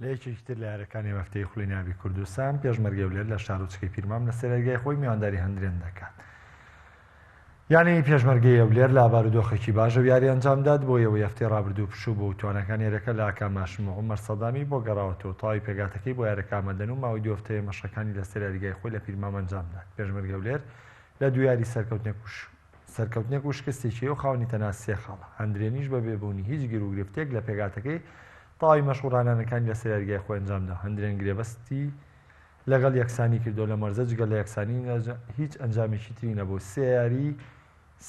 لە یەکێکی تر لە یارەکانی مەفتەی خولی ناوی کوردستان، پێشمەرگەی هەولێر لە شارۆچکەی پیرمام لە سەیرارگای خۆی میوانداری هەندرێن دەکات. یانەی پێشمەرگەی هەولێر لە بارودۆخێکی باش ئەو یارییە ئەنجامدات، بۆ ئەوەی هەفتەی رابردوو پشوو بوو، تواناکانی یارەکە لە ئاکام هاشم و عومەر سەدامی بۆ گەڕاوەتەوە، تەواوی پێکهاتەکەی بۆ یارەکە ئامادەن و ماوەی دوو هەفتەیە مەشقەکانی لە سەیرارگای خۆی لە پیرمام ئەنجامدات. پێشمەرگەی هەولێر لە دوو یاری سەرکەوتنێک و سەرکەوتنێک و شکستێکی و خاوەنی تەنها سێ خاڵە، هەندرێنیش بەبێ بوونی هیچ گیروگرفتێک لە پێکهاتەکەی تەواوی مەشق و ڕانانەکانی لە سەر یاریگای خۆی ئەنجامدا، هەندرێن گرێبەستی لەگەڵ یەکسانی کردووە، لەم وەرزە جگە لە یەکسانی هیچ ئەنجامێکی تری نەبوو، سێ یاری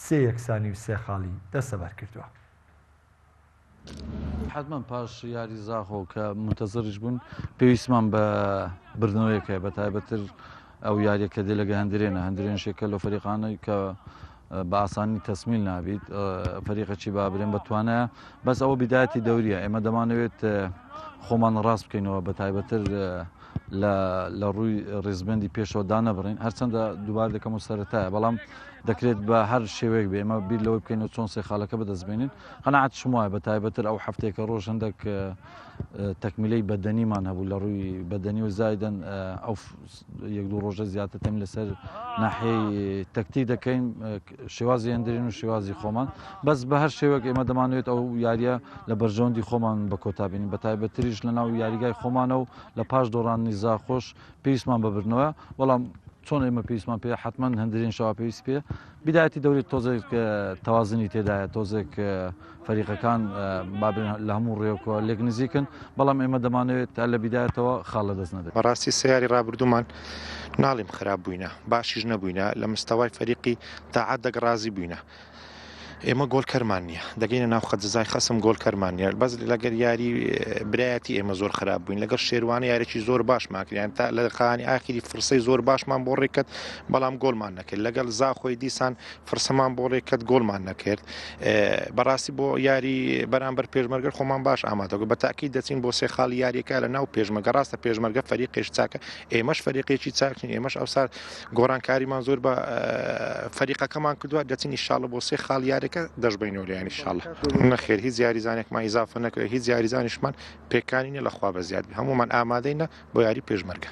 سێ یەکسانی و سێ خاڵی دەستەبەر کردووە. حەتمەن پاش یاری زاخۆ کە مونتەزڕیش بوون پێویستمان بە بردنەوەیەک هەیە، بەتایبەتتر ئەو یاریە کە دێ لەگە هەندرێنە هەندرێنشێک کە لە فەریقانەی کە بە ئاسانی تەسمیل نابیت فەریقەچی با برێن بە توانایە بەس ئەوە بدایەتی دەوریە ئێمە دەمانەوێت خۆمان ڕاست بکەینەوە بە تایبەتر لە ڕووی ڕێزبندی پێشەوە دانەبڕین هەرچەندە دووبار دەکەم و سەرەتایە بەڵام دەکرێت بە هەر شێوەیەک بێ ئمە بیر لەوەی بکەین و چۆن سێ خاڵەکە بەدەستبێنین قەنەعات شموایە بە تایبەتر ئەو هەفتێکە ڕۆژ هەندێک تەکمیلەی بەدەنیمان هەبوو لە ڕووی بەدەنی و زایدەن ئەو یەک دوو ڕۆژە زیاتر تەم لەسەر ناحەی تەکتی دەکەین شێوازی هەندرین و شێوازی خۆمان بەس بە هەر شێوەک ئێمە دەمانوێت ئەو یاریە لە بەرژەوەندی خۆمان بە کۆتابین بە تایبەتریش لە ناو یاریگای خۆمانە و لە پاش دۆڕان نیزا خۆش پێویستمان بە بردنەوە بەڵام چۆن ئێمە پێویستمان پێ حتمما هەندرین شەوا پێویست پێ بدایەتی دەورێت تۆزێک تەوازنی تێدایە تۆزێک فەریقەکان بابن لە هەموو ڕێوکەوە لێک نزیکن بەڵام ئێمە دەمانەوێت تا لە بدایەتەوە خاڵە دەست نەبێت بەڕاستی سیاری ڕابردوومان ناڵیم خراپ بووینە باشیش نەبووینە لە مستەوای فەریقی تاعات دەگەڕازی بووینە ئێمە گۆڵ کەرمان نییە دەگەینە ناو خەجزای خەسم گۆڵ کەرمان نیە بەس لەگەر یاری برایەتی ئێمە زۆر خراپ بووین لەگەر شێوانە یارێکی زۆر باشماکریان تا لە دەقانی ئاخری فرسەی زۆر باشمان بۆ ڕێکرد بەڵام گۆڵمان نەکرد لەگەڵ زاخۆی دیسان فرسەمان بۆ ڕێکرد گۆڵمان نەکرد بەڕاستی بۆ یاری بەرامبەر پێشمەرگەر خۆمان باش ئامادەگە بە تاکی دەچین بۆ سێ خاڵ یاریەکە لە ناو پێشمەگە ڕاستە پێشمەرگە فەریقێش چاکە ئێمەش فەریقێکی چاکین ئێمەش ئەوسار گۆڕانکاریمان زۆر بە فەریقەکەمان کردووە دەچین ئیشاڵە بۆ سێ خاڵ یارەکە دەشبینەوە لە ینی شاڵە نەخێر هیچ یاریزانێکمان ئیزافە نەکرێت هیچ یاریزانیشمان پێکانینە لەخوا بە زیاد هەمومان ئامادەینە بۆ یاری پێشمەرگە.